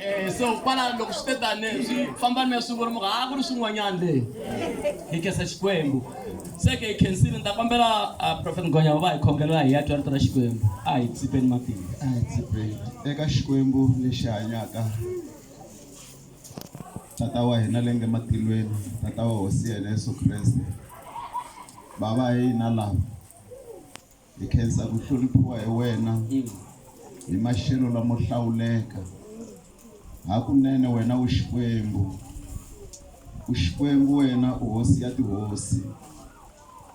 Eh, so kwala loko swi te tani swi famba ni swivuri muka a ku ri swin'wanyana leyi hi khensa xikwembu se ke hi khensile ni ta kombela ah, prophet ngonya va va hi khongelela hi ya twa rito ra xikwembu a hi tsipeni matimba a hi tsipeni eka xikwembu lexi hanyaka tata wa hina le nge matilweni tata wa hosi ya hina yesu kreste bava hi hina lava Hi khensa ku hloniphiwa hi wena hi maxelo lamo hlawuleka. Hakunene wena u Xikwembu, u Xikwembu wena u Hosi ya tihosi.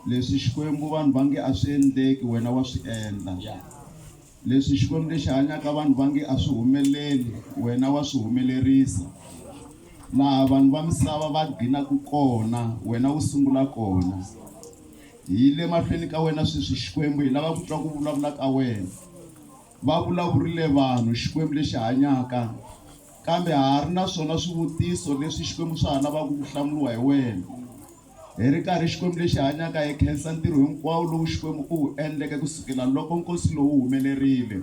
Leswi Xikwembu vanhu va nge a swi endleki wena wa swi endla. Leswi Xikwembu lexi hanyaka vanhu va nge a swi humeleli wena wa swi humelerisa. Laha vanhu va misava va ghinaka kona wena u sungula kona. Hi le mahlweni ka wena sweswi, Xikwembu. Hi lava ku twa ku vulavula ka wena. Va vulavurile vanhu, Xikwembu lexi hanyaka, kambe ha ha ri na swona swivutiso leswi, Xikwembu, swa ha lavaka ku hlamuriwa hi wena. Hi ri karhi, Xikwembu lexi hanyaka, hi khensa ntirho hinkwawo lowu, Xikwembu, u wu endleke ku sukela loko nkosi lowu wu humelerile.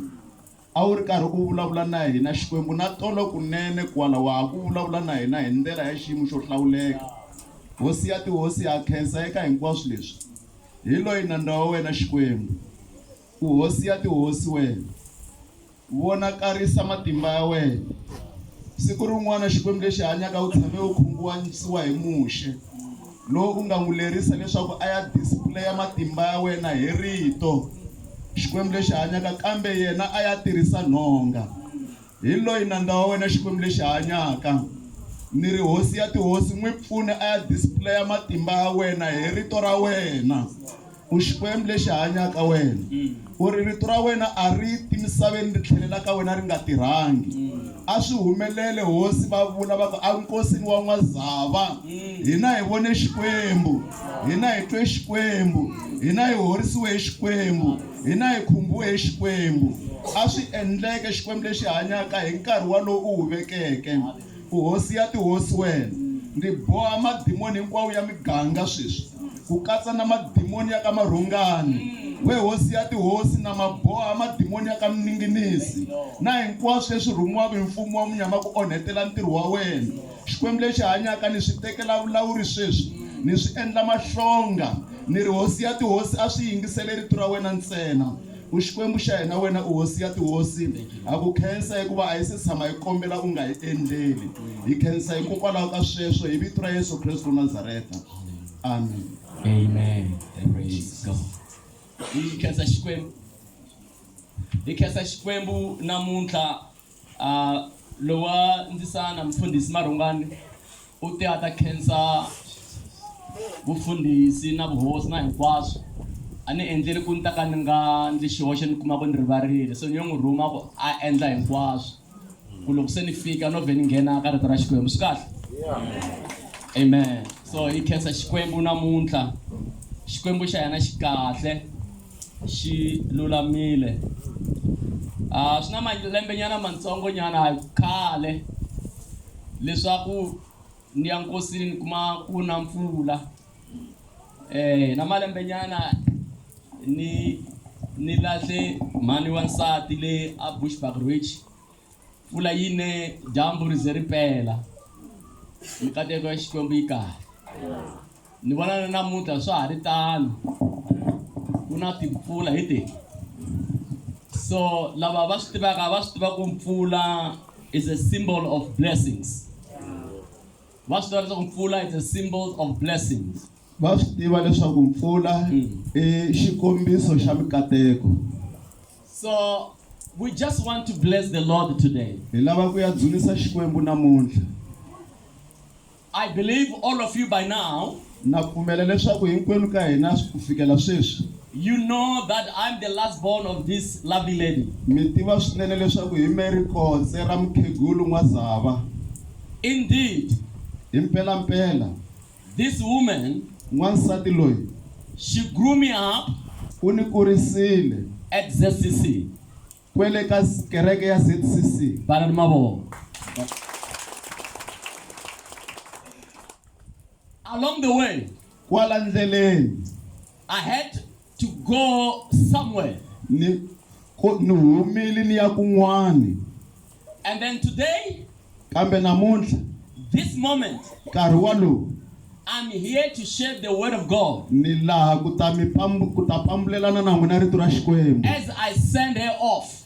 A wu ri karhi u vulavula na hina, Xikwembu, na tolo kunene kwala, wa ha ku vulavula na hina hi ndlela ya xiyimo xo hlawuleka. Hosi ya tihosi ya ha khensa eka hinkwaswo leswi. Hi loyi nandza wa wena, Xikwembu. U Hosi ya tihosi, wena. Vonakarisa matimba ya wena. Siku rin'wana, Xikwembu lexi hanyaka, u tshame u khunguanyisiwa hi Muxe. Loko u nga n'wi lerisa leswaku a ya displaya matimba ya wena hi Rito, Xikwembu lexi hanyaka, kambe yena a ya tirhisa nhonga, hi loyi nandza wa wena, Xikwembu lexi hanyaka, ni ri Hosi ya tihosi, n'wi pfune a ya displaya matimba ya wena hi Rito ra wena. U Xikwembu lexi hanyaka, wena u ri, Rito ra wena a ri ti misaveni ri tlhelela ka wena ri nga tirhangi. A swi humelele hosi va vula va ku, A nkosini wa n'wazava, hina hi vone Xikwembu, hina hi twe Xikwembu, hina hi horisiwe hi Xikwembu, hina hi khumbiwe hi Xikwembu. A swi endleke, Xikwembu lexi hanyaka, hi nkarhi walowu u wu vekeke. U Hosi ya tihosi wena. Ndzi boha madimoni hinkwawo ya miganga sweswi, ku katsa na madimoni ya ka Marhongani. We Hosi ya tihosi, na ma boha madimoni ya ka Mninginisi na hinkwaswo leswi rhumiwaka hi mfumo wa munyama ku onhetela ntirho wa wena. Xikwembu lexi hanyaka, ni swi tekela vulawuri sweswi, ni swi endla mahlonga. Ni ri, Hosi ya tihosi, a swi yingisele rito ra wena ntsena. U Xikwembu xa hina, wena u Hosi ya tihosi. Ha ku khensa hikuva a hi se tshama hi kombela u nga hi endleli. Hi khensa hikokwalaho ka sweswo, hi vito ra Yesu Kreste wa Nazareta. Amen. Amen. Praise God. Hi khensa Xikwembu. Hi khensa Xikwembu namuntlha Uh, lowa ndzisana mfundhisi marhungani u te a ta khensa vufundhisi na vuhosi na hinkwaswo a ni endleli ku ni ta ka ni nga ndzi xihoxo ni kuma ku ni rivarile so ni yo n'wi rhuma ku a endla hinkwaswo ku loko se ni fika no vhe ni nghena ka rito ra xikwembu swi kahle amen so hi khensa xikwembu namuntlha xikwembu xa hina xi kahle xi lulamile a ah, swi na malembenyana matsongonyana khale leswaku ni ya nkosini ni kuma ku na mpfula eh na malembenyana ni ni lahle mhani wa nsati le a Bushbuckridge mpfula yi ne dyambu ri ze ri pela mikateko ya xikwembu yi kahle ni vona na namuntlha swa ha ri tano ku na timpfula hi ti so lava va swi tivaka va swi tiva ku mpfula is a symbol of blessings va swi tiva leswaku mpfula is a symbol of blessings Va swi tiva leswaku mpfula i xikombiso xa mikateko. So we just want to bless the Lord today. Hi lava ku ya dzunisa Xikwembu namuntlha. I believe all of you by now. Na pfumela leswaku hinkwenu ka hina ku fikela sweswi. You know that I'm the last born of this lovely lady. Mi tiva swinene leswaku hi me rikotse ra mukhegulu N'wazava. Indeed. Hi mpelampela. This woman. N'wansati loyi. She grew me up. U ni kurisile. At ZCC. Kwele ka kereke ya ZCC. Bana ni mavoko. Along the way. Kwala ndleleni. I had to go somewhere. Ni ku ni humile ni ya kun'wani. And then today, kambe namuntlha, this moment, nkarhi walowu, I'm here to share the word of God. Ni laha ku ta mi pambu ku ta pambulelana na n'wina rito ra Xikwembu. As I send her off.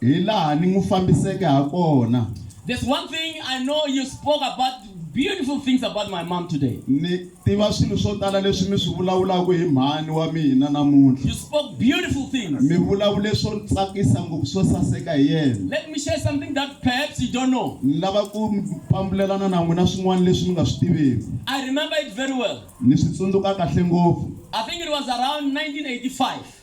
Hi laha ni n'wi fambiseke ha kona. There's one thing I know you spoke about beautiful things about my mom today. Ni tiva swilo swo tala leswi mi swi vulavulaka hi mhani wa mina namuntlha. You spoke beautiful things. Mi vulavule swo tsakisa ngopfu swo saseka hi yena. Let me share something that perhaps you don't know. Ni lava ku mi pambulelana na n'wina swin'wana leswi mi nga swi tiveki. I remember it very well. Ni swi tsundzuka kahle ngopfu. I think it was around 1985.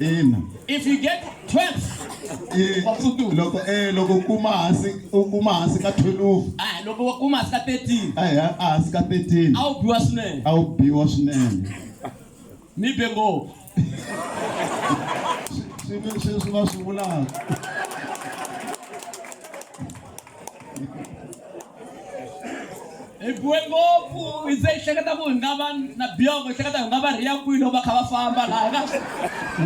ina If you get 12, I- Wa pfutuka. loko eh loko u kuma hansi u kuma hansi ka 12 ah, loko wa kuma hansi ka 13, a hi a hansi ka 13 a wu biwa swinene. a wu biwa swinene Mi be ngopfu. swi swi va swi vulaka hi biwe ngopfu hi ze hi hleketa ku hi nga va na biyoko hi hleketa hi nga va rhiya kwihi loko va kha va famba laha ka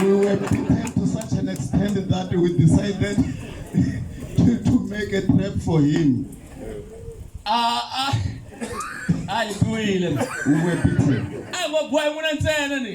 we were beaten to such an extent that we decided to, to make a trap for him a a a hi biwile we were beaten a ngo biwa hi n'wina ntsena ni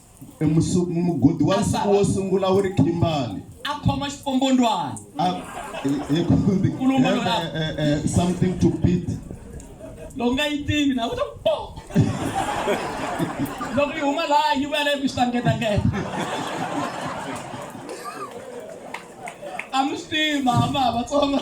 E musu- mu- mugodi wa nsuku wo sungula wu ri Kimberley a khoma xipombondwana Ah, eh, eh, kumbe- Kulumba eh, lona. eh, eh, eh, something to beat loko nga yi tivi na kuta po loko yi huma laha yi vuya leyi ku xitangetangeta a mi swi tivi mama vatsonga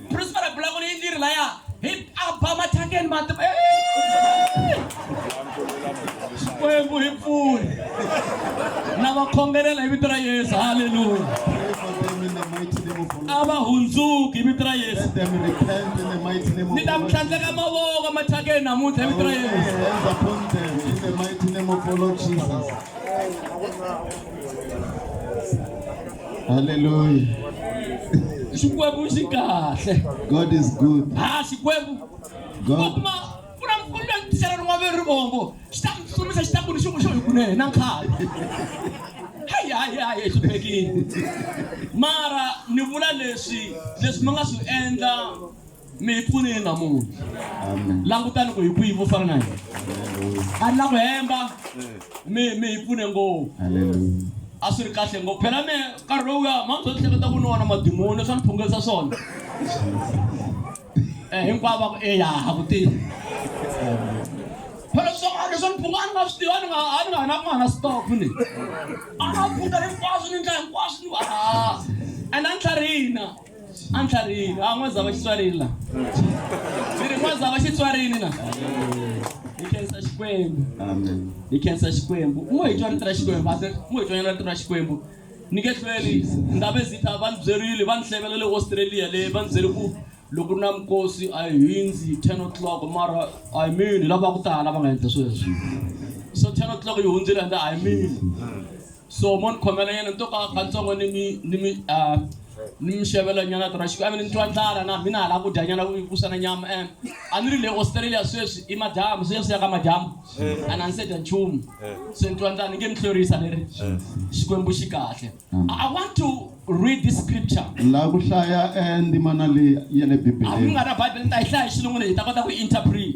Prosper bula ku ni ndiri la ya hi aba mathakeni ma ti Xikwembu hi pfuni na va khongelela hi vito ra Yesu haleluya a va hundzuki hi vito ra Yesu ni ta mi tlhandleka mavoko mathakeni namuntlha hi vito ra Yesu Hallelujah. Xikwembu xi kahle. God is good. Ha Xikwembu. God. Kuma ku na ku na tixela rin'wana leri rivombo xi ta mi hlumisa xi ta ku ni xin'we xo hi kunene na nkhale. Hayi hayi hayi hluphekile. Mara ni vula leswi leswi mi nga swi endla mi hi pfunile namuntlha langutani ku hi kwihi vo fana na hina a ni la ku hemba mi mi hi pfune ngopfu a swi ri kahle ngopfu phela mi nkarhi lowuya manzo ni hleketa ku ni wona madimoni leswi a ni phungelisa swona um hinkwavo va ku eya ha ku tivi phela swin'wana leswi a ni phunga a ni nga swi tivi a ni nga a ni nga na ku nga na stop ni a nga phunga hinkwaswo ni ndla hinkwaswo ni va and a ni tlharihina a ni tlharihile a n'wa zava xitswarini la ndzi ri n'wa zava xitswarini la hi khensa xikwembu Amen. hi khensa xikwembu mo hi twa rito ra xikwembu ase mo hi twanyana rito ra xikwembu ni nge hlweli ndhabe zita va ni byerile va ni hlevela le australia le va ni byele ku loko ri na minkosi a hi hundzi ten o'clock mara i mean hi lava ku tala va nga endla sweswo so ten o'clock yi hundzile ende i mean So mo ni khomela yena ni to ka kantsongo ni mi ni mi ah, ni mi xavela nyana tora xikwembu ni twa ndlala na mina hala ku dya nyana ku ku sana nyama em a ni ri le australia sweswi i madyambu sweswi ya ka madyambu a na ni se dya nchumu se ni twa ndlala ni nge ni hlwerisa ni ri xikwembu xi kahle i want to read this scripture la ku hlaya eh, ndzimana leyi ya le a mi bibeleni nga na bible ni ta yi hlaya hi xilungu leyi hi ta kota ku interpret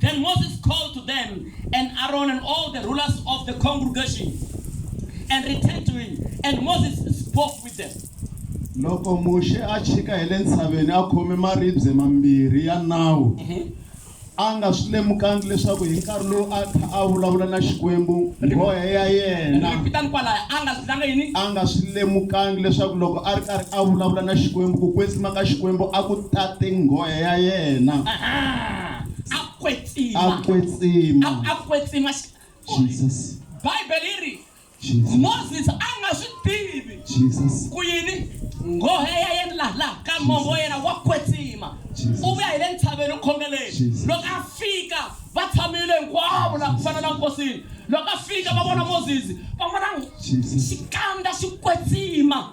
Then Moses called to them, and Aaron and all the rulers of the congregation, and returned to him, and Moses spoke with them. loko muxe a chika hi le ntshaveni a khome maribye mambirhi ya nawu a nga swi lemukangi leswaku hi nkarhi lowu a kha a vulavula na xikwembu nghohe ya yena Ripitani kwalaya, a nga zilanga yini? a nga swi lemukangi leswaku loko a ri karhi a vulavula na xikwembu ku kwetsima ka xikwembu a ku tate nghohe ya yena Aha. a kwetsima a kwetsima a, a kwetsima Jesus Bible yi ri Moses a nga swi tivi Jesus ku yini nghohe ya yena laha laha ka mongo wa yena wa kwetsima u vuya hi le ntshaveni u khongeleni loko a fika va tshamile hinkwavo laha ku fana na nkosini loko a fika va vona moses va vona xikandza xi kwetsima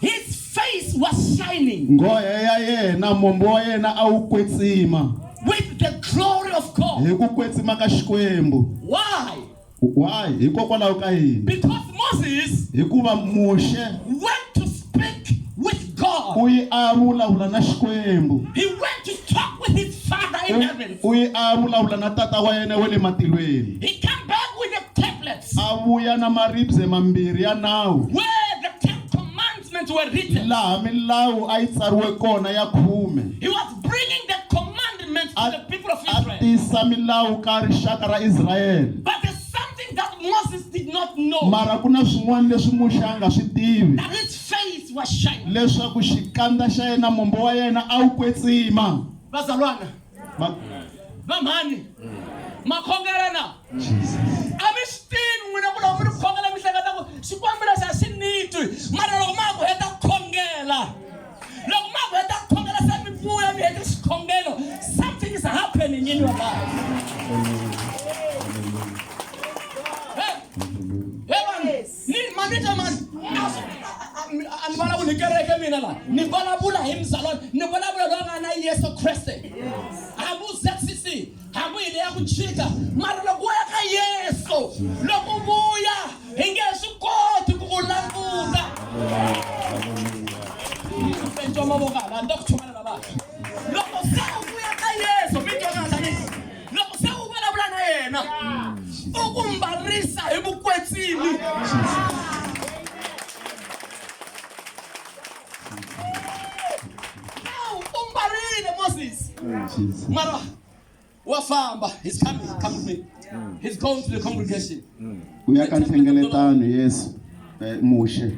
His face was shining. Nghohe ya yena, mombo wa yena a wu kwetsima. With the glory of God. Hi ku kwetsima ka Xikwembu. Why? Why? Hikokwalaho ka yini? Because Moses. Hikuva Muxe. Went to speak with God. U yi a vulavula na Xikwembu. He went to talk with his father in heaven. U yi a vulavula na tata wa yena wa le matilweni. He came back with a tablet. A vuya na maribye mambirhi ya nawu. Where the Ten Commandments were written. Laha milawu a yi tsariwe kona ya khume. He was bringing the commandments to the people of Israel. A tisa milawu ka rixaka ra Israel. But there's something that Moses did not know. Mara ku na swin'wana leswi Muxe a nga swi tivi. That his face was shining. Leswaku xikandza xa yena mombo wa yena a wu kwetsima. Vazalwana. Ma- va mhani ma khongelana a mi swi tivi n'wina ku loko mi ri khongela mi hleketa ku xikwembu lexi a xi ni twi mara loko ma ha ku heta ku khongela loko ma ha ku heta ku khongela se mi vuya mi hete xikhongelo something is happening in your life Hey, hey, vanhu. ni manager man a ni vulavuli hi kereke mina la ni vulavula hi mzalwana ni vulavula loyi a nga na yesu kreste hambi u zcc hambi hi le ya ku chika mara loko u ya ka yesu loko u vuya hi nge swi koti ku u languta mavoko hala ni ta ku chumela lavaka loko se u vuya ka yesu mi twanana loko se u vulavula na yena u ku mbarisa hi vukwetsimi Now, u mbarile moses mara wa famba he's coming come with me he's going to the congregation u ya ka nhlengeletano yesu eh, muxe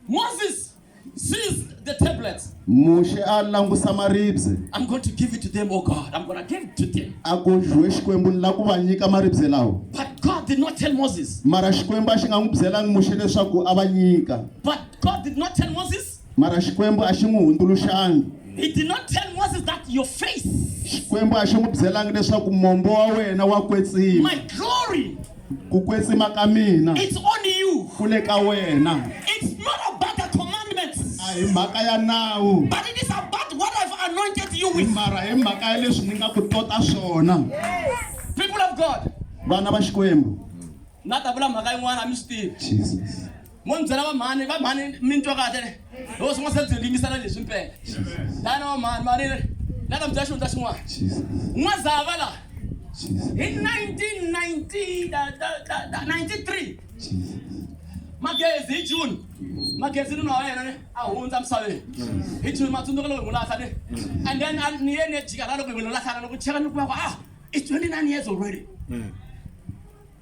Moses sees the tablets. muxe a langusa maribye I'm going to give it to them, oh God. I'm going to give it to them. a ku dyiwe xikwembu ni lava ku va nyika maribye lawa But God did not tell Moses. mara xikwembu a xi nga n'wi byelangi muxe leswaku a va nyika But God did not tell Moses. mara xikwembu a xi n'wi hundzuluxangi He did not tell Moses that your face, xikwembu a xi n'wi byelangi leswaku mombo wa wena wa kwetsima my glory, ku kwetsima ka mina It's on you. ku le ka wena It's not about the commandments, a hi mhaka ya nawu but it is about what I've anointed you with. mara hi mhaka ya leswi ni nga ku tota swona People of God. vana va xikwembu Na ta vula mhaka yin'wana a mi swi tivi. jesus Mo ni byela va mhani, va mhani mi ni twa kahle ne? Ho swi nga se byi yingisela leswi mpela. Dana va mhani, mhani le. Na ta mi byela xihundla xin'wana. N'wazava la. Hi 1990 da da da da 93. Magezi hi June. Magezi nuna wa yena ne a hundza misaveni. Hi June matsundzuka loko hi n'wi lahla ne. And then a ni ye ni ya jika la loko hi n'wi lahlana loko cheka ni kuma ku ah it's 29 years already.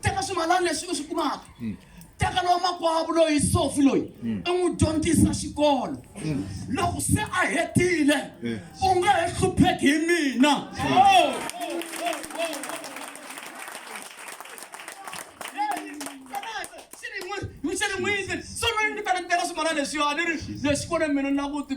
teka swimalani leswi u swi kumaka mm. teka lowa makwavo loyi sofi loyi u mm. n'wi dyondzisa xikolo mm. loko se a hetile eh. u nga he hlupheki hi mina oh. swi ri n'wini so loyi ndzi fanekitela swimalani leswiwa ni ri leswi kone mina na kuti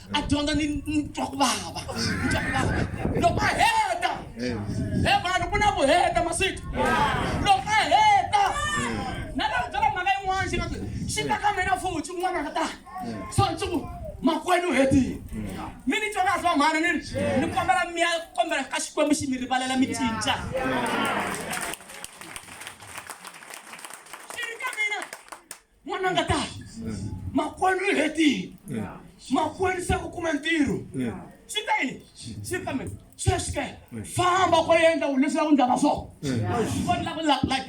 a dyondza ni ni twa ku vava ni twa ku vava loko a heta he vanhu ku na ku heta masiku loko a heta na lero byela mhaka yin'wana xi nga ku xi ta ka mina futhi un'wana a nga ta so ni ku makwenu u hetile mi ni twa kahle vamhana ni ri ni kombela mi ya kombela ka xikwembu xi mi rivalela mi cinca n'wananga ta makwenu u hetile makwenu se u kuma ntirho swi ta yini swi kambe sweswi ke famba ko yendla u leswi la ku ndlaka swo vona la ku la like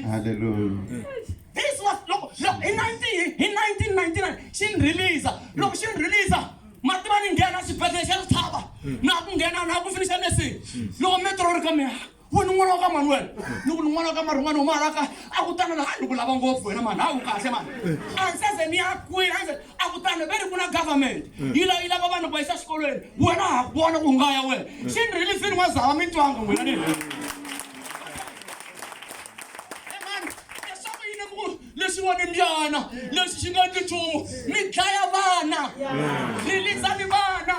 this was loko loko hi 19 hi 1999 xi ni release loko xi ni release mativa ni nghena xibedhlele xa ritshava na ku nghena na ku finixa nursing loko metro ri ka mina we ni n'wana wa ka mani wena ni ku ni n'wana wa ka marin'wana u maraka a ku tana laha ni ku lava ngopfu wena mani hawu kahle mani a ni seze ni ya kwini a ni se a ku tana ve ri ku na government yi la yi lava vanhu ku va yisa xikolweni wena ha ku vona ku nga ya wena xi ni rilifini wa zava mi twanga n'wina ni lexi wa ni mbyana lexi xi nga ni nchumu mi dlaya vana rilizani vana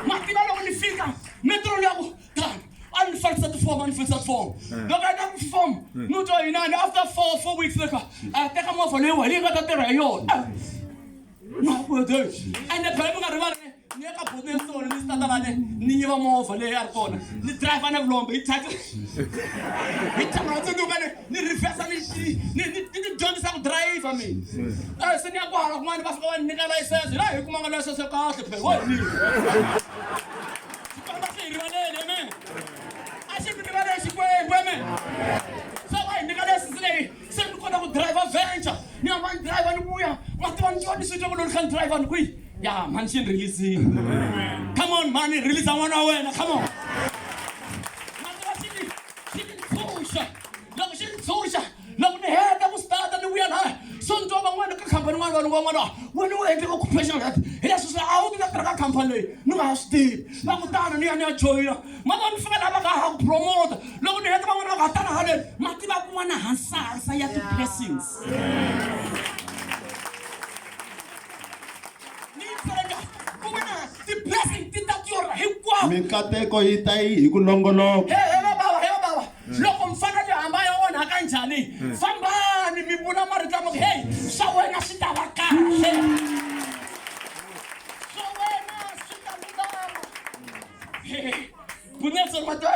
mativa loko ni fika metro loko God, a ni fambisa tifomo a ni fambisa tifomo eh. loko a ta ku tifomo eh. ni twa yinani after four four weeks later a teka movha leyi wena yi nga ta tirha hi yona ah. makwede ende phela mi nga rivali ni ya ka bodo ya sona ni sitatalane ni yiva movha leyi a ri kona ni driver na vulombe yi tata yi thamela tsunukane ni reversa ni ni ni dyondzisa ku driver mina eh. eh, se ni ya ku hala kun'wana va fika va ni nyika layisense la hi kumanga layisense kahle phela wo hi mina Xikwembu a xi hi rivaleli amen a xi mi rivaleli xikwembu amen se va hi nyika lesisi leyi se ni kota ku driver venture ni hamba ni driver ni vuya ma tiva ni tiva ni swi twa ku loko ni kha ni driver ni kwihi ya mhani xi ni releasini come on mhani release n'wana wa wena come on ma tiva xi ni xi ni ntshunxa loko xi ni ntshunxa loko ni heta ku stata ni vuya laya so ni twa van'wana ka khampani n'wana vanhu van'wana wena u endle occupational health hi leswi swi a wu ti ta tirha ka khampani leyi ni nga ha swi tivi va kutani ni ya ni ya joyina mavona ni fika laha va nga ha ku promota loko ni heta van'wana va nga ha tala haleni ma tiva kun'wana hansahasa ya ti-blessings ti-blessing ti ta tiora hinkwavo mikateko yi ta yi hi ku nongoloka Loko mi fana mi hamba ya onhaka njhani? Fambani mi vula marito lama ku, Hey, swa wena swi ta va kahle. Swa wena swi ta lulama. Kunetseri ma tiva,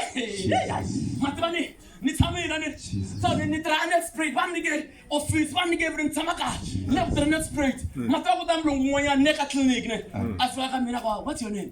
ma tiva ni ni tshamile na ni so ni ni tirha net spray va ni nyike office va ni nyike vuri ni tshama ka ni ya ku tirha net spray ma tiva ku ta mulungu un'wanyana ne ka tliliniki ne a fika ka mina ku what's your name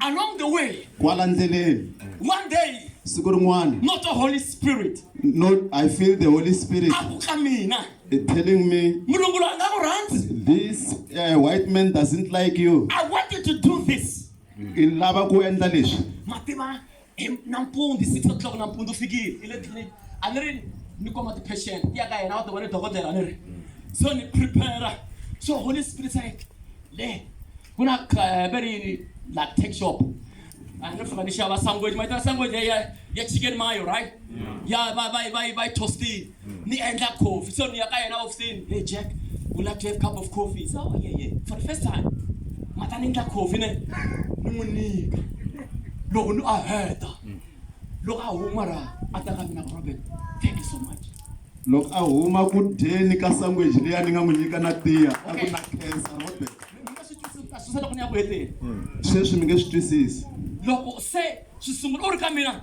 Along the way, kwala ndleleni one day, siku rin'wana not the Holy Spirit, no i feel the holy spirit a ku ka mina, is telling me mulungu loyi a nga ku rhandzi. this uh, white man doesn't like you I wanted to do this. i lava ku endla leswi Mativa, hi nampundzu six o'clock nampundzu fikile i le tliliniki a ni ri ni koma ti-patient ti ya ka yena va tiva ni dokodela a ni ri so ni prepare so holy spirit said le ku na va ri yini la tech shop a ni fika ni xava sangweji ma yi tana sangweji ya ya chicken mayo right ya va va va va yi tostile ni endla coffee so ni ya ka yena ofisini hey jack u love to have cup of coffee so oh, yeah, yeah. for the first time ma ta ni endla coffee ne ni n'wi nyika loko ni a heta loko a huma ra a ta ka mina robert thank you so much loko a huma ku dyeni ka sangweji leyi a ni nga n'wi nyika na tiya a ku na khensa robert sweswi mi nge swi twisisi loko se swi sungula u ri ka mina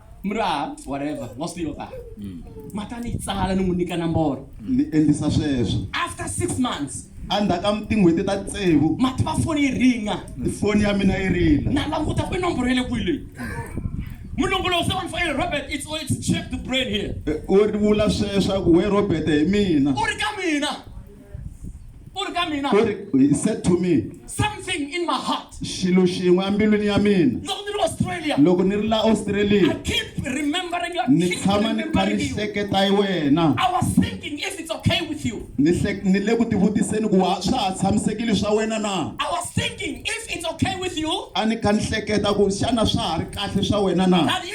Mra, whatever, was still there. Mm. Mata ni tsala ni n'wi nyika nomboro. Ni endlisa sweswo. After six months. Endzhaku ka tin'hweti ta tsevu. Mati va foni yi ringa. Foni ya mina yi rila. Na languta ku i nomboro ya le kwihi leyi. Mulongolozi wa fanele Robert it's all it's check the brain here. Eh, u vula sweswaku we Robert hi mina. U ri ka mina. u ri ka mina u ri he said to me something in my heart xilo xin'we embilwini ya mina loko ni ri australia loko ni ri la australia i keep remembering your ni tshama ni kha ni hleketa hi wena i was thinking if it's okay with you ni ni le ku tivutiseni ku swa ha tshamisekile swa wena na i was thinking if it's okay with you a ni kha ni hleketa ku xana swa ha ri kahle swa wena na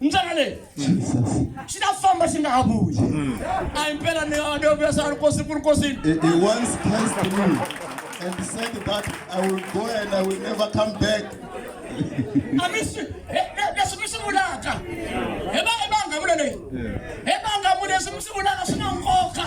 ndlela leyi xi ta famba xi nga ha vuyi a hi mpela ni a nio vuyasana ri kosi ku ri kosini and said that I will go and I will never come back. Leswi mi swi vulaka hi va hi va nga vula leyi hi va nga vula leswi mi swi vulaka swi na nkoka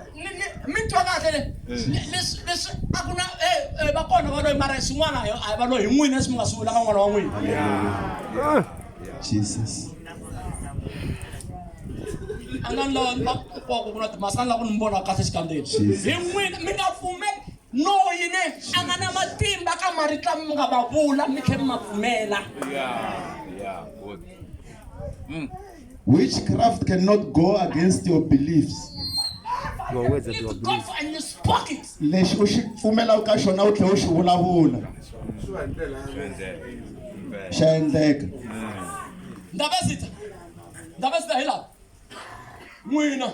mi twa kahle le leswi leswi a ku na va kona va loyi mara swin'wana a va loyi hi n'wina leswi mi nga swi vulaka n'wana wa n'wina jesus a nga ni lava va kokwaku ku na timasi a ni lava ku ni vona kahle xikandzeni hi n'wina mi nga pfumeli loyi ne a nga na matimba ka maritla mi nga va vula mi tlhe mi ma pfumela Witchcraft cannot go against your beliefs. Your words that you have believed. And you spoke it. Lexi u xi pfumelaka ka xona u tlhela u xi vulavula. Xa endleka. Ndabezitha. Ndabezitha hi laha. N'wina.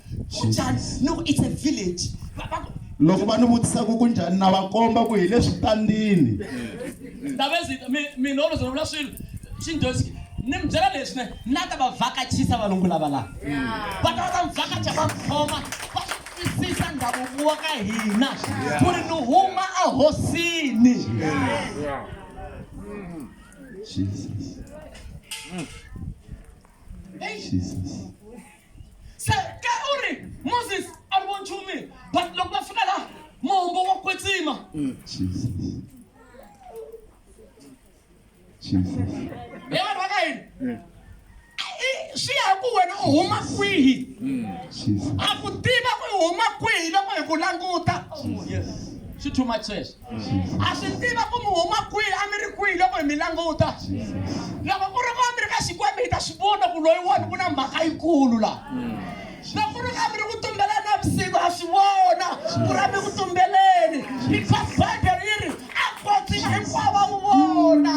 kunjhani ni ku it's a village Va- va ku- loko va ni vutisa ku kunjhani na va komba ku hi le switandini ndavesita mina olo zvinovula swilo xindyosi ni mi byela leswi ne na ta va vhakachisa valungu lava laha va ta va ta mi vhakacha va khoma va swi twisisa ndhavuko wa ka hina ku ri ni huma ehosini jesus jesus se ke u ri moses a ri vo nchumu but loko va fika laha mahombo wa kwetsima e vanhu va ka yini I- swi ya ku wena u huma kwihi a ku tiva ku i huma kwihi loko hi ku languta swi too much sweswo a swi tiva ku mi huma kwihi a mi ri kwihi loko hi mi languta loko ku ri ku a mi ri ka xikwembu hi ta swi vona ku loyi wona ku na mhaka yikulu laha loko ku ri ku a mi ri ku tumbeleni na vusiku ha swi vona ku ri a mi ku tumbeleni because bibele yi ri a kotsima hinkwavo va n'wi vona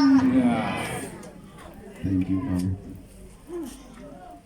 Thank you, Mama.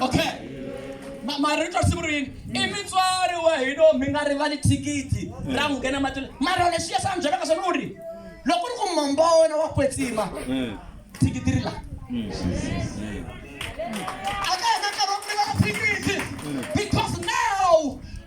okay Ma- marito a sungulweni i mutswari wa hino mi nga rivali thikithi ra n'wi nghena matini mara lexi ya sani byelaka swona u ri loko u ri ku momba wa wena wa kwetsima thikithi ri la a ka heta nkarhi wa ku rivala thikithi because now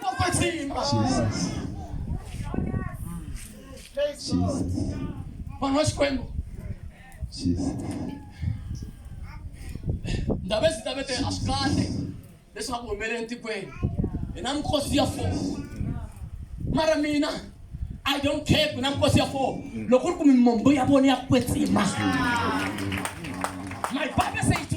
Kokotsimba. Jesus. Jesus. Vanhu va Xikwembu. Jesus. Ndhawu leti ta vete a swi kahle leswi nga ku humelele etikweni. Hi na mikosi ya four. Mara mina I don't care ku na mikosi ya four. Loko ku ri ku mimombo ya vona ya kwetsima. My Bible says to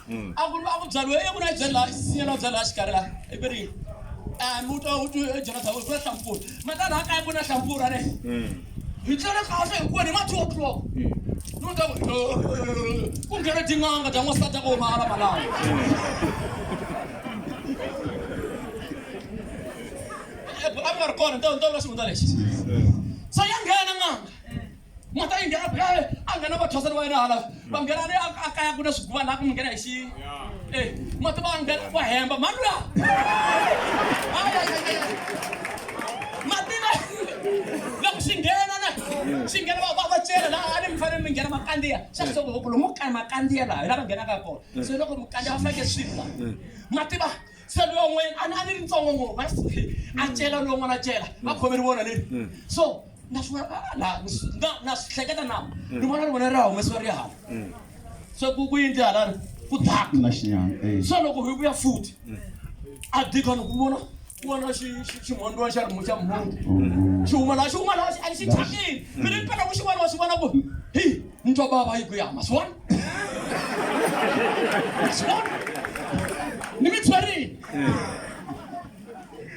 mm. a ku ri a ku byariwe i ku na byari laha sinyela byari laha xikarhi laha i ku ri a mi twa u twi jonathan ku na hlampfura mata laha kaya ku na hlampfura ne mm. hi tlele kahle hikuva ni ma two o'clock mm. ni ku ta ku ku nghena tin'anga ta n'wansati a ko ma alama laha a ku nga ri kona nto nto vula xivundza lexi so ya nghena n'anga mhaka yi nghena phela a nghena vathwasani va yena hala va nghena le a a kaya ku na swiguva laha ku mi nghena hi xi e mati va nghena va hemba mhani luya mativa loko swi nghena na swi nghena va va va cela laha a ni mi fanele mi nghena makandziya xa kusoko loko lomu ka makandziya laha hi laha va nghenaka kona se loko mukandziya va fanekele swi la mativa se loyi un'wanyana a ni a ni ri ntsongo ngopfu va swi tlhe a cela loyi un'wana a cela va khome ri vona leri so na swi vona ah, la ni swi- na- na swi hleketa na ni vona ri vona ri ha humesiwa ri ya hala se ku ku yindli hala ri ku daka na xinyama eh. so loko hi vuya futhi a dikon ku vona ku vona xi- xi- ximhondiwa xa rimu xa mhungu xi huma laha xi huma laha xi- a xi thyakile mi ri mpela ku xi vona wa swi vona ku hi ni twa bava yi ku yama swi vona ni mitshwarini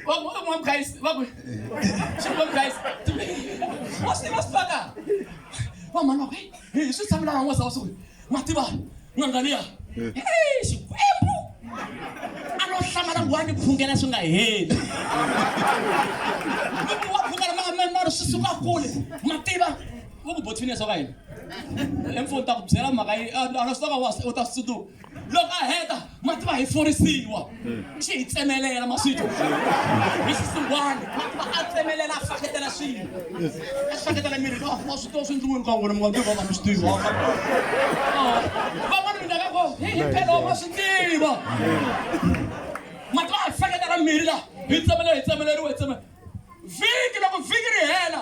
vakuamwa guys vaku xivula guys wa swi tiva swi paka va mhani va ku hi swi tshamela na n'wesa wa swi ku ma tiva n'angaliya xikwembu a no hlamala ku wa ni phungela swi nga heli loko wa phungela ma ma ma ri swi suka kule ma tiva ku ku bothwini swa ka yini emfo ta ku byela mhaka yi ana swi toka wasi u ta swi tsundzuka loko a heta mati va hi forisiwa xi hi tsemelela maswito hi xisiwani mati va a tsemelela a faketela swilo a faketela miri ka wa swi tiva swi ndlungwini ka n'wina mi nga tiva ka mi swi tiva van'wana mi ndaka ko hi hi phela wa swi tiva mati va hi faketela miri la hi tsemelela hi tsemeleriwa hi tsemelela vhiki loko vhiki ri hela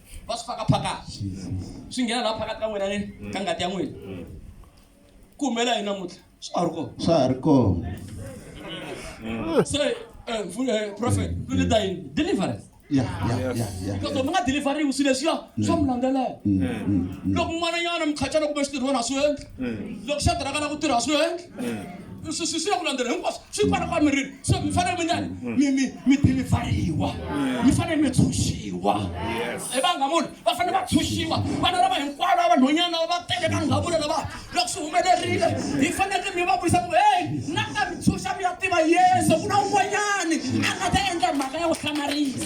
va swi faka phakati swi nghena laha phakati ka n'wina ni ka ngati ya n'wina ku humela yini namuntlha swa ha ri kona swa ha ri kona se eh, vu- eh, prophet lu leta yini deliverance ya ya ya ya because loko mi nga deliveriwi swilo leswiya swa mi landzelela loko n'wananyana mukhatyana kumbe xitirhwana a swi endli loko xa tirhaka na ku tirha a swi endli mm. swi swi ya ku landzela hinkwaswo swi kwala kwa mirini so mi fanele mi njani mm. mi mi mi dilivhariwa mm. mi fanele mi tshunxiwa hi vanga munhu va fanele va tshunxiwa vana lava hinkwavo lava vanhonyana lava va tele ka ndhavulo lava loko swi humelerile hi faneleke mi va vuyisa ku heyi na ka mi tshunxa mi ya tiva yesu ku na un'wanyani a nga ta endla mhaka ya ku hlamarisa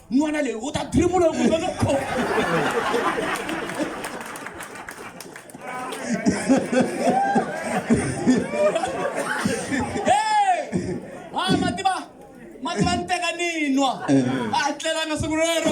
n'wana leyi u ta dribula ku nga kho ha mativa mativa ni teka ni nwa a tlelanga siku rero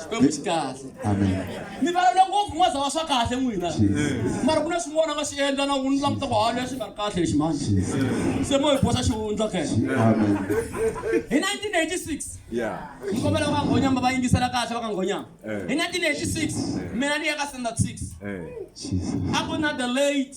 xikwembu xi kahle Amen. mi valele ngopfu n'waza wa swa kahle n'wina mara ku na swin'wana va swi endla na vunhu languta ku hanya swi nga ri kahle lexi mani se mo hi boxa xivundla kena Amen. hi 1986 Yeah. ni kombela va nghonyama va yingisela kahle va ka nghonyama Eh. hi 1986 mina ni ya ka standard 6 Hey. Jesus. a ku na the late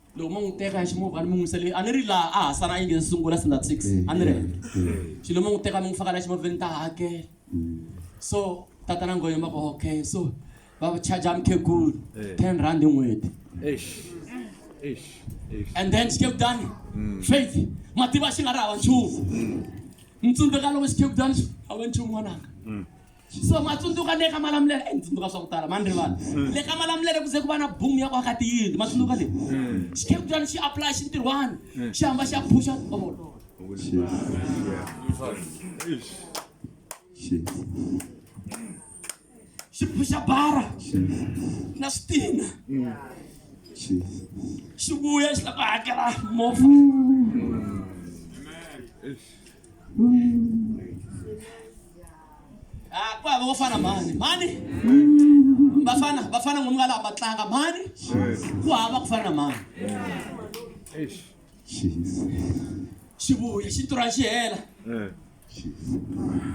loko mo n'wi teka ximovha ni mi n'wi yisele a ni ri laha a ha sala a yi nge ni sungula sinda six a ni ri henhla xilo mo n'wi teka mi n'wi faka laha ximovheni ta hakela so tatana ngoyo ma ku okay so va charger mukhegulu ten rand hi n'hweti and then xikhegudani faith mativa xi nga ri hava nchumu ni tsundzuka loko xikhegudani xi hava nchumu n'wananga so ma tsundzuka le ka malamulele e ni tsundzuka swa ku tala mani ri vanhu hmm. le ka malamulele ku ze ku va na boom ya ku aka tiyindlu ma tsundzuka leyi hmm. xikeputani xi apply xi ntirhwani hmm. xi hamba xi ya phusha ovolo xi phusha bara na switina xi vuya xi la ku hakela movha Ah, ku hava vafana mhani mhani vafana vafana ngomu ka laha va tlanga mhani ku hava ku fana na mhani xivuya xi tirha xi hela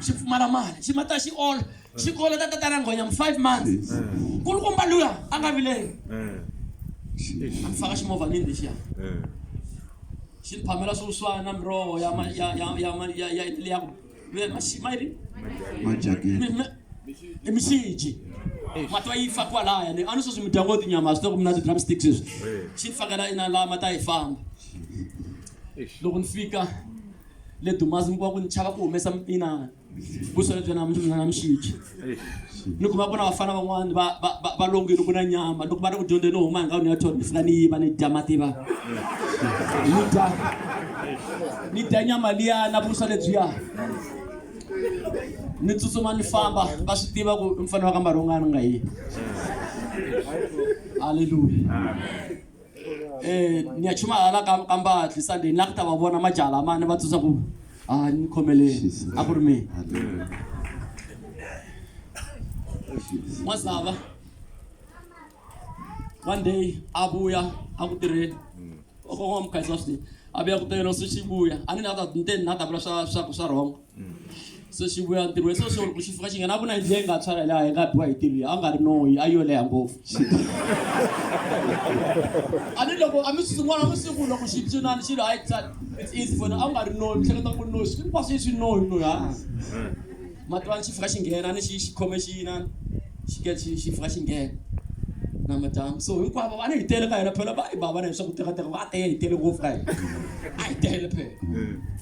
xi pfumala mali xi mata xi ola xi kola ta tatana nghonya mu five months kulukumba luya a nga vileli a mi faka ximovha nini lexiya Xi phamela swo swa na miroho ya ma- ya ya ya ma- ya ya ya ku ya maxi- ma yini? majakiti Mi- mi- i mixiji mati va yi fa kwalaya ni a ni sweswi mi dya ngo tinyama swi ta ku mi na ti-drum sticks sweswi xi ni fakela ina laha mati a yi famba loko ni fika le dumazi mi kuva ku ni chava ku humesa mina kusalebya namxichi ni kuma ku na vafana van'wani va va- va- va longile ku na nyama loko va ri ku dyondzeni huma hi ndhawini ya tona ni fika ni yiva ni dya mativa ni dya ni dya nyama liya na vusa lebyiya ni tsutsuma ni famba va swi tiva ku i mfanelo wa ka marhongani nga yini halleluya um ni ya chuma hala ka ka mbatli sunday ni la ku ta va vona majala ma ni va tsundza ku a ni khomeleni a ku ri mina n'wazava one day a vuya a ku tirheni kokwana mukhaisa swinene a vuya ku tirhela swi xivuya a ni na ta ni te ni na ta vula swa swa swa wrong se xi vuya ntirhweni se xi ku xi fika xi nghena ku na yindlu leyi nga tshwara laha yi nga biwa hi ntirho a nga ri noyi a yo leha ngopfu a ni loko a mi swin'wana mi siku loko xi cinani xilo a yi tsala it's easy for a nga ri noyi mi hleketa ku noyi swi kwaswi swi noyi noyi ha mativani xi fika xi nghena ni xi xi khome xi yinani xi ke xi xi fika xi nghena na madyambu so hinkwavo va ni hi tele ka hina phela va yi bava na hi swa ku tekateka va tele hi tele ngopfu ka hina a hi tele phela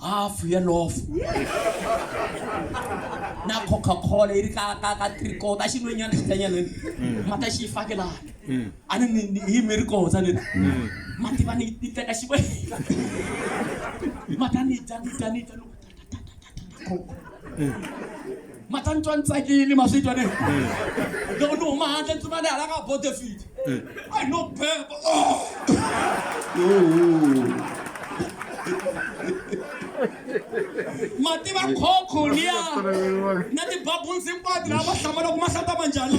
hafu ya lofu na coca cola yi ri ka ka ka tricota xi nwenyana xitanyana mm. mati a xi yi fake laha mm. a ni ni hi mi ri kotsa ni mm. mati va ni ni teka xi mati a ni dya ni dya ni dya loko ma ta ni twa ni tsakile ma swi twa ne loko ni huma handle ni tsumane hala ka bodefit i no beba ma tiva khokho liya na tibabulsi hinkwato laha va hlamala ku ma hlata manjhani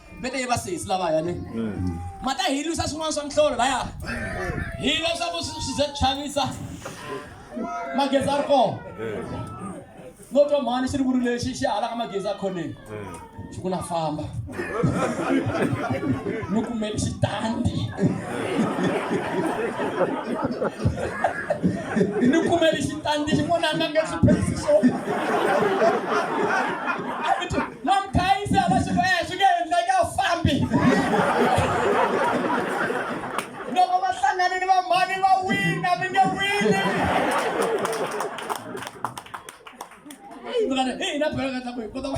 mi te va sesi lavaya ne mm. ma ta hi lwisa swin'wana swa mihlolo laya hi leswaku swi ze chavisa magezi a ri kona no twa mhani xi ri vuri lexi xi halaka magezi a khoneni xi ku na famba mi kumeli xitandi ni kumeli xitandi xin'wana a nga nge swi phesisona Na mkhayisi a va swi ku eh swi nge endleki a wu fambi. Loko va hlangane ni vamhani va wina mi nge wini. Eyi mfana, eyi na bolo ka tlakuyi kota ku.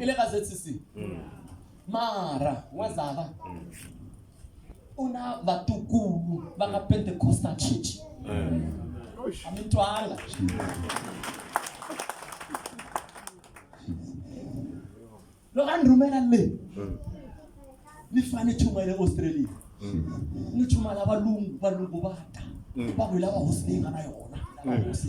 i le ka zcc mara n'wazava u na vatukulu va ka pentecostal church a mi twanga loko a ni rhumela le ni fane chuma ya le australia ni chuma la valungu valungu va ta va ku hi lava hosi leyi nga na yona lava hosi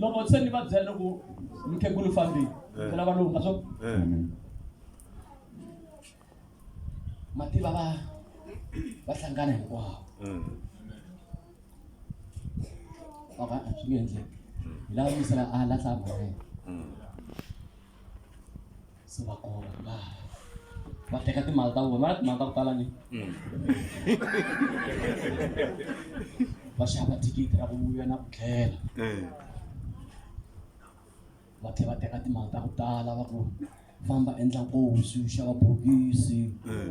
loko se ni va byela loko mukhegulu fambile eh. ni lava lowu nga swo eh. mativa va va hlangana hinkwawo eh. vava swi nge endleki hi lava misela a lahla mhaka yena se va kona va va teka timali ta vona va timali ta ku tala ni mm. va xava thikithi ra ku vuya na ku tlhela eh. va tlhela va teka timali ta ku tala va ku famba endla nkosi xava bokisi eh.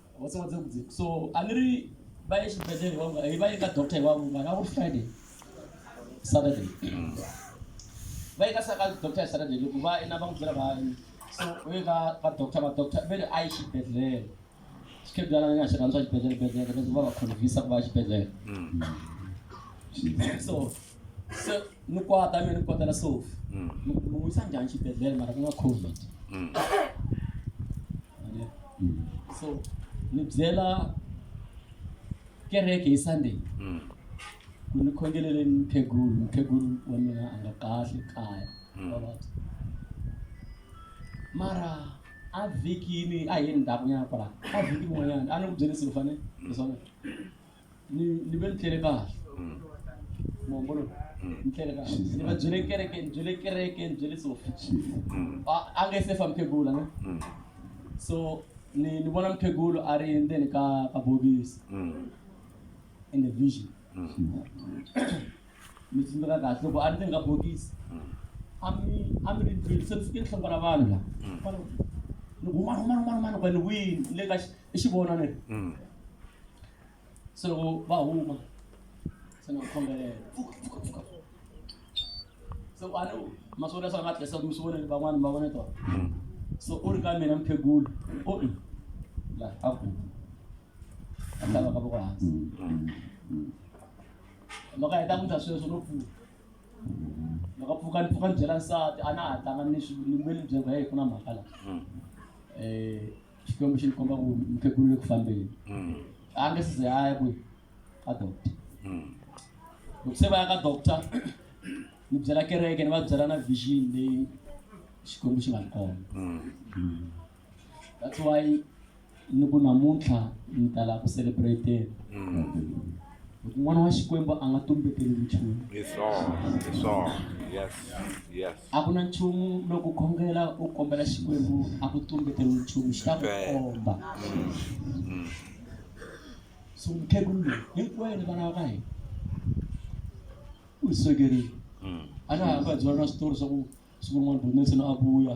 What's what's up? So a ni ri va ye xibedhlele wa hi va ye ka doctor hi wa vunga na ku Friday Saturday va ye ka sa ka doctor Saturday loko va ina va n'wi byela va so u ye ka ka doctor va doctor ve ri a yi xibedhlele xikhedwana ni nga xi rhandza xibedhlele bedhlele leswi va va khonvisa ku va xibedhlele so so ni kwata mi ni kwatela sofi ni n'wi yisa njhani xibedhlele mara ku nga covid Amen. Mm. so ni byela kereke hi sunday Mm. ku ni khongelele mukhegulu mukhegulu wa mina a nga kahle kaya Mm. vavabyi mara a vhikini a hi ndhakunyana kwala a vhiki rin'wanyana a ni ku byelisi ku fane leswaku ni ni ve ni tlele kahle muhumbulo ni tlele kahle ni va byele kereke ni byele kereke ni byele sofi a a nge se fa mukhegula ne so ni ni vona mukhegulu a ri ndzeni ka ka bokisi in the vision mi tsundzuka kahle loko a ri ndzeni ka bokisi a mi a mi ri ndlwini se mi fike ni hlongola vanhu la kwalaho ni huma huma huma huma ni ku ni wini ni le ka xi- i xi vona ne mm. se loko va huma se ni va khongelela so a ni maswolo ya swa nga tlesa mi swi vona ni van'wana va vona tona mm. so u ri ka mina mphegulu o oh, mm. la a ku a tlhava ka voko hansi loko a heta ku ta sweswo no pfuka loko pfuka ni pfuka ni byela nsati a na ha tlanga ni ni mbe ni byela ku ya hi ku na mhaka la um xikwembu xi ni komba ku mukhegulu le ku fambeni mm. a nge size a ya kwi ka doctor mm. loko se va ya ka doctor ni byela kereke ni va byela na vision leyi xikwembu xi nga ni komba mm. that's why ni ku namuntlha ni tala ku celebrate Loko n'wana wa Xikwembu a nga tumbeteli nchumu. Hi swona, hi swona. Yes, yes. A ku na nchumu loko u khongela u kombela Xikwembu a ku tumbeteli nchumu xi ta ku Ntsena. komba. So mukhegulu loyi hinkwenu vana va ka hina u hi swekerile. A na ha vabyela na switori swa ku siku rin'wana Bonetson a vuya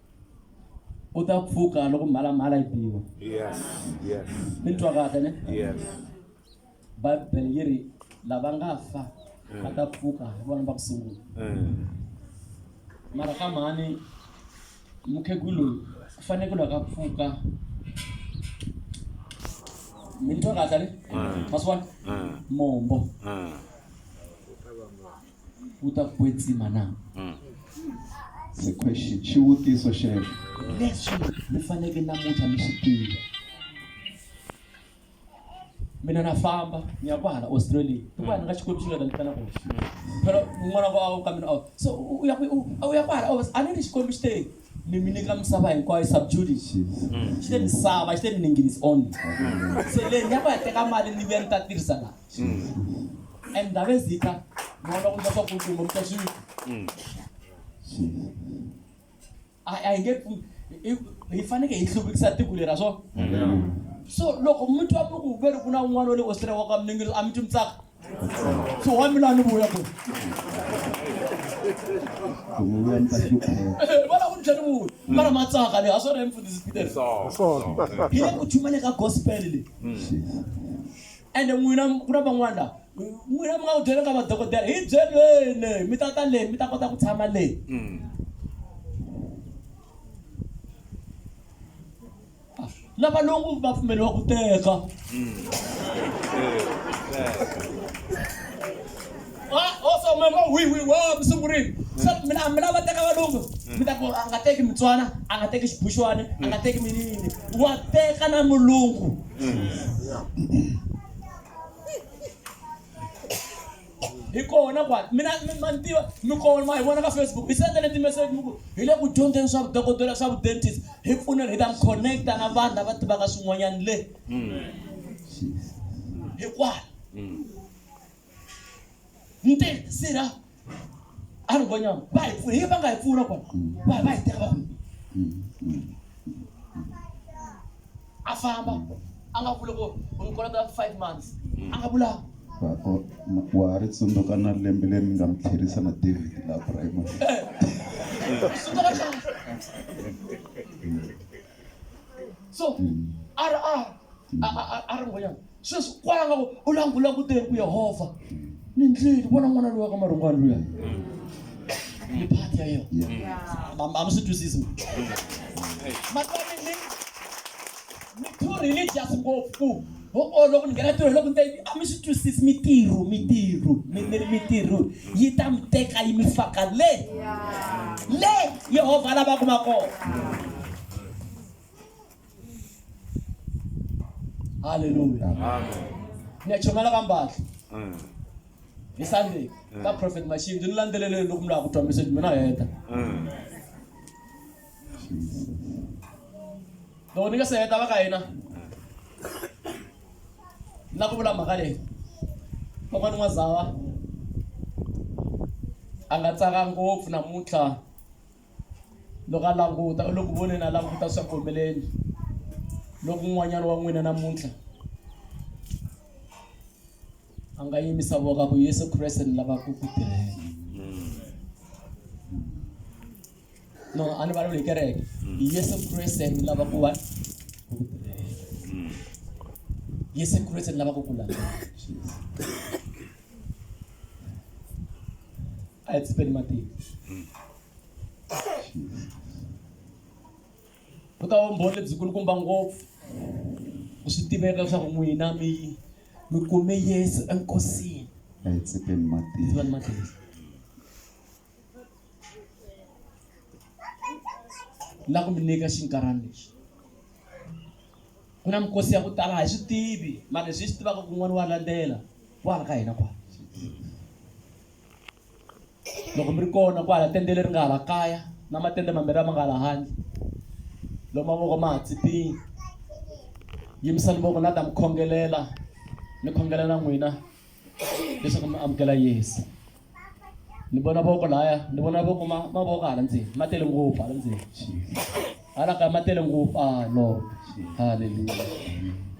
u ta pfuka loko mhalamhala yi biwa yes yes mi twa kahle ne yes bibele yi ri lava nga fa va ta pfuka hi vona va ku sungula Mm. mara ka mhani mukhegulu loyi ku fanele ku loko a pfuka mi ni twa kahle ne Mm. masiwana Mm. mombo Mm. wu ta kwetsima na? Mm. It's a question. Xivutiso xexo. Leswi mi faneke namuntlha mi swi tiva. Mina na famba ni ya kwahala Australia. Hikuva ni nga Xikwembu xi nga ta ni tana kona. Phela n'wana wa ka mina so u ya u ya kwahala oh, a ni ri Xikwembu xi te ni mi nyika misava hinkwayo subdued it. Xi te misava, xi te mi ningini is only. Se leyi ni ya ku ya teka mali ni vuya ni ta tirhisa laha. and ndave zita maona kuti vapakutumbo mutasvivika ainge hifanike hi hluvukisa tiko lera swo so loko mi twa mi ku veri ku na un'wana wa le australia wa ka miningiriso a mi twi mitsaka so wa mina a ni vuya ko vona ku ni tlhe ni vuya mara matsaka leyi a swi ri emfundhisi peter hi le ku chumaneka gospel leyi Ende n'wina, ku na van'wana la, n'wina mi nga va byela ka vadokodela, hi byeleni, mi ta ta le, mi ta kota ku tshama le. Na valungu va pfumeliwa ku teka. Ah, oh, so mama, wi, wi, wa, mi sungurile. Se mina, a mi lava teka valungu. Mi ta ku, a nga teki Mutswana, a nga teki Xibuxwana, a nga teki minini. Wa teka na mulungu. hi kona kwani mina mi- ma ni tiva mi kona ma hi vona ka facebook hi sendele ti-message mi ku hi le ku dyondzeni swa vudokodela swa vudentist hi pfuneni hi ta mi connecta na vanhu lava tivaka swin'wanyana le hikwala nte sera a ri vonyama va hi pfuna hi va nga hi pfuna kona va va hi teka va kona a famba a nga vula ku ni kolota five months a nga vula wa ha ri tsundzuka na lembe leri ni nga mi tlherisa na david la primary eh. so a ri a a ri ngoyana sweswi kwala nga ku u langulanguteni ku yehovha ni ndlwini vona n'wana luya ka marungwani luya ni phati ya yena a mi swi twisisi matswari ni ni too religious ngopfu ku ho o loko ni nghena ntirho loko ni ta yini a mi swi twisisi mitirho mitirho mi mi ri mitirho yi ta mi teka yi mi faka le le yehovha a lava kuma kona halleluya ni ya chomela ka mbatla hi sunday ka prophet mashindzi ni landzeleleni loko mi lava ku twa message mina heta loko ni nga se heta va ka hina na ku vula mhaka leyi kokwana n'wazava a nga tsaka ngopfu namuntlha loko a languta u le ku voneni a languta swa ku humeleni loko un'wanyana wa n'wina namuntlha a nga yimisa voka ku yesu kreste ni lava ku ku tirhela no a ni vulavuli hi kereke yesu kreste ni lava ku va ku ku tirhela yesu kreste ni lava ku ku landzela a hi tsipeni matiko Vuta vumbhoni lebyi kulukumba ngopfu ku swi tiveka leswaku n'wina mi mi kume Yesu enkosini. A hi tsepeni mati. Tsepeni mati. La ku mi nyika xinkarhana lexi. Ku na mikosi ya ku tala hi swi tivi, mara leswi hi swi tivaka ku n'wana wa landzela wa hala ka hina kwala. loko mi ri kona kwala tende leri nga hala kaya na matende mambirhi lama nga la handle lomu mavoko ma ha tsipini yimisani voko na ta mi khongelela ni khongela na n'wina leswaku mi amukela yesu ni vona voko laya ni vona voko mavoko hala ndzeni ma tele ngopfu hala ndzeni hala kaya ma tele ngopfu a ah, lord halleluya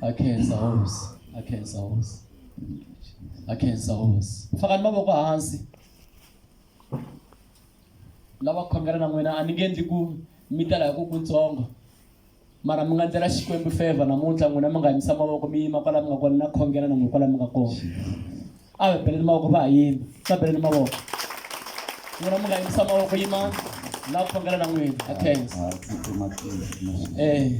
a khensa hosi a khensa hosi na khensa hosi ku faka ni mavoko hansi lava khongela na n'wina a ni nge endli ku mi tala hi ku kutsongo mara mi nga ndlela xikwembu favor namuntlha n'wina mi nga yimisa mavoko mi yima kwala mi nga kona na khongela na n'wina kwala mi nga kona a va beleni mavoko va ha yima va beleni mavoko n'wina mi nga yimisa mavoko yimani la khongela na n'wina a khensa Hayi, tsutsuma tsutsuma. eh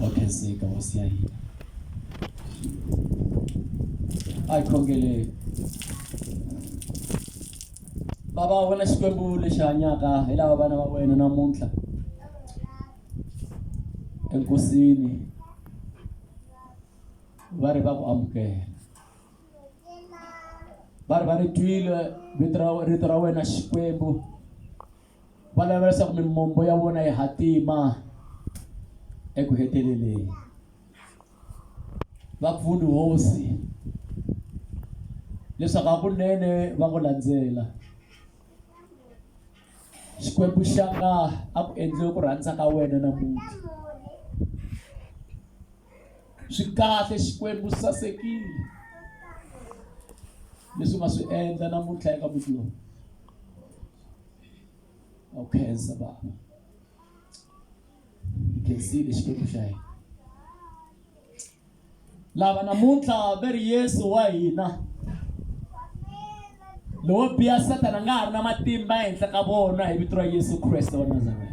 wa khenseka hosi ya hina a hi khongeleni bava a vona xikwembu lexi hanyaka hi lava vana va wena namuntlha enkosini va ri va ku amukela va ri va ri twile vito ra rito ra wena xikwembu va lava leswaku mimombo ya vona yi hatima eku heteleleni va pfuni hosi leswaku hakunene va ku landzela xikwembu xaka a ku endliwe ku rhandza ka wena namuntlha swi kahle xikwembu swi sasekile leswi u nga swi endla namuntlha eka muti lowu a wu khensa baba hi khensile xikwembu xa hina lava namuntlha va ri yesu wa hina lowo biha sathana nga ha ri na matimba ehenhla ka vona hi vito ra yesu kreste wa nazareta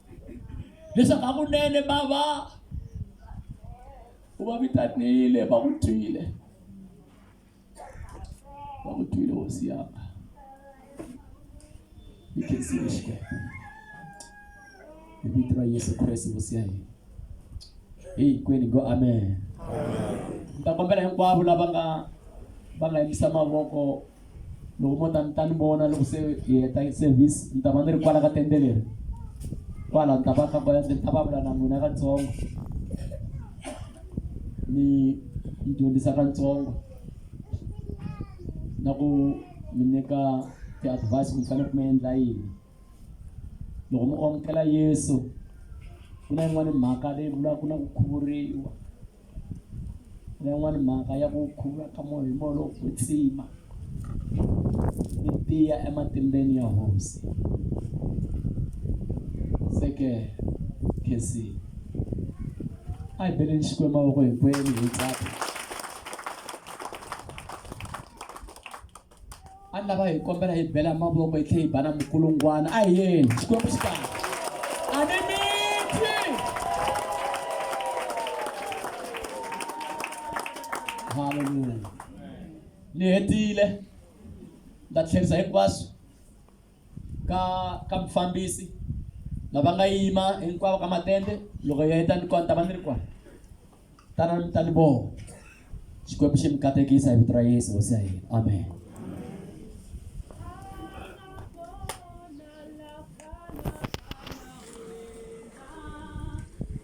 leswaku hakunene va va u va vitanile va ku twile va ku twile hosi yaka yi khensile xikwembu hi vito ra yesu kreste hosi ya hina hinkwenu go amen ni ta kombela hinkwavo lava nga va nga yimisa mavoko loko mo ta ni ta ni vona loko se hi heta service ni ta va ni ri kwala ka tende leri kwala ni ta va ka kwala ni ta va vula na n'wina katsongo ni ni dyondzisa katsongo na ku mi nyika ti-advice ku mi fanele ku mi endla yini loko mi amukela yesu ku na yin'wani mhaka leyi vulaka ku na ku khuvuriwa na yin'wani mhaka ya ku khuvula ka moya hi moya lowo kwetsima ni tiya ematimbeni ya hosi se ke khesi a hi beleni xikwembu mavoko hinkwenu hi tsaka a ni lava hi kombela hi bela mavoko hi tlhela hi bana mukulungwana a hi yeni xikwembu xi kahle a ni mitwi halleluya ni hetile nda tlherisa hinkwaswo ka ka mufambisi lava nga yima hinkwavo ka matende loko hi heta ni kona ta va ni ri kona tana mi ta ni vona xikwembu xi mi katekisa hi vito ra yesu hosi ya hina amen